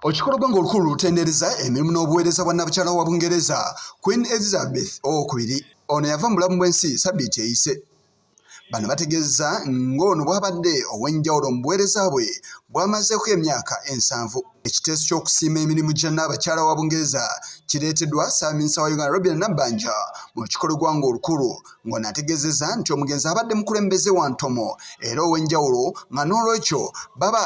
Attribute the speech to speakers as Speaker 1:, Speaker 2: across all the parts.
Speaker 1: Olukikolo gwanga olukulu lutendereza emirimu n'obuweereza bwa Nnabukyala wa Bungereza, Queen Elizabeth owokubiri. Ono yava mu bulamu bw'ensi sabbiiti eyise. Bano bategeezza ng'ono bw'abadde ow'enjawulo mu buweereza bwe bw'amazeeko emyaka ensanvu. Ekiteeso ky'okusiima emirimu gya Nnaabakyala wa Bungereza kireeteddwa Ssaaminsa wa Uganda Robina Nabbanja mu lukikolo gwanga olukulu ng'ono ategeezezza nti omugenzi abadde mukulembeze wa ntomo era ow'enjawulo nga n'olwekyo baba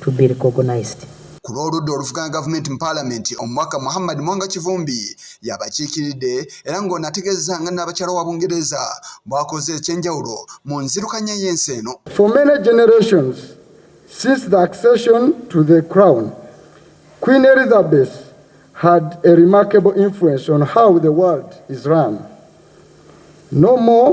Speaker 2: to be recognized. Ku lw'oludda
Speaker 1: oluvuganya gavumenti mu paalamenti, omubaka Muhammad Mwanga Kivumbi y'abakiikiridde era ng'ono ategeezezza nga Nnaabakyala wa Bungereza bw'akoze eky'enjawulo mu nzirukanya y'ensi eno. For many generations
Speaker 3: since the accession to the crown, Queen Elizabeth had a remarkable influence on how the world is run. No more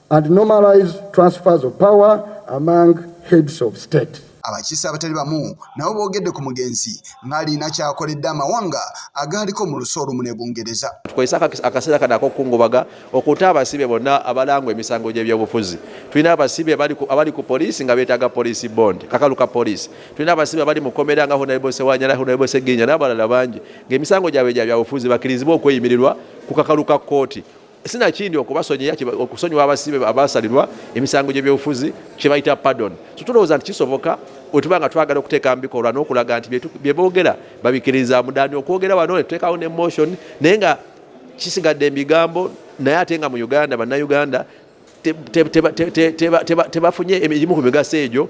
Speaker 3: and normalize transfers of power among heads of state. Abakiise abatali bamu
Speaker 1: nabo boogedde ku mugenzi ng'alina kyakoledde amawanga agaaliko mu lusi olumu ne Bungereza. Tukozesa akaseera
Speaker 4: kano ak'okukungubaga okuta abasibe bonna abalangwa emisango gy'ebyobufuzi. Tulina abasibe abali ku poliisi nga beetaaga poliisi bond, kakalu ka poliisi. Tulina abasibe abali mu kkomera nga Honorable Sewanyana, Honorable Ssegirinya n'abalala bangi ng'emisango gyabwe gya byabufuzi bakkirizibwe okweyimirirwa ku kakalu ka kkooti. sinakindi okubasonyiya okusonyiwa abasibe abasalirwa emisango gyebyobufuzi kyebayita pardon so tulowooza nti kisoboka otuba nga twagala okuteeka mu bikolwa n'okulaga nti byeboogera babikiriza mudani okwogera wano netuteekawo ne motion naye nga kisigadde embigambo naye ate nga mu uganda bannayuganda tebafunye emigimu ku migaso egyo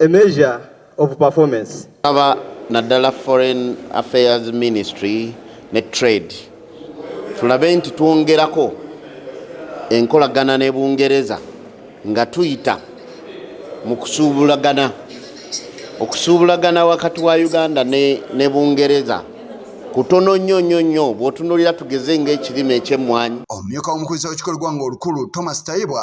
Speaker 5: a measure of performance. Aba
Speaker 6: naddala Foreign Affairs Ministry ne Trade tulabe nti twongerako enkolagana ne Bungereza nga tuyita mu kusuubulagana okusuubulagana wakati wa Uganda ne, ne Bungereza kutono nnyo nnyo nnyo bw'otunuulira tugeze ng'ekirime eky'emmwanyi. Omumyuka w'omukulisa
Speaker 1: w'ekikolo gwanga olukulu Thomas Tayebwa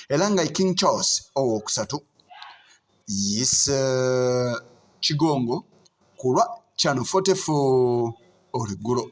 Speaker 1: era nga king charles owokusatu yise eh, kigongo kulwa chano 44 oluggulo